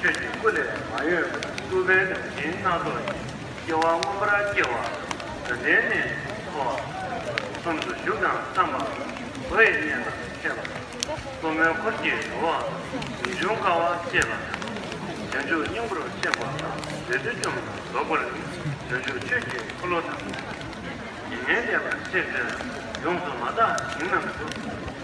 ཆོས་ཀྱི་སྐུ་ལས་མ་གཡོས་པར་སྐུ་བལ་དང་སྦྱིན་སྣ་ཚོགས་ཀྱི་སྐྱེ་བ་སྔོན་པོ་ར་སྐྱེ་བ་དོན་ལྡན་ནས་འཚོ་བ་གསུམ་དུ་བཞུགས་དང་བསམ་པ་བུ་ཡི་གཉེན་དང་ཕྲད་པ་དང་གཏུམ་མོའི་འཁོར་གྱི་འགྲོ་བ་རིན་འབྱུང་དཀའ་བ་སྐྱེས་པ་དང་བྱང་ཆུབ་སྙིང་པོར་གཤེགས་པ་དང་འདུས་བདུད་བཅོམ་དང་རྫོགས་པར་ནི་བྱང་ཆུབ་ཆོས་ཀྱི་འཁོར་ལོ་དང། ཡིན་ངེས་ལེགས་པར་ཤེས་བྱ་ཡོངས་སུ་མ་དག་ཞིང་རྣམས་སུ།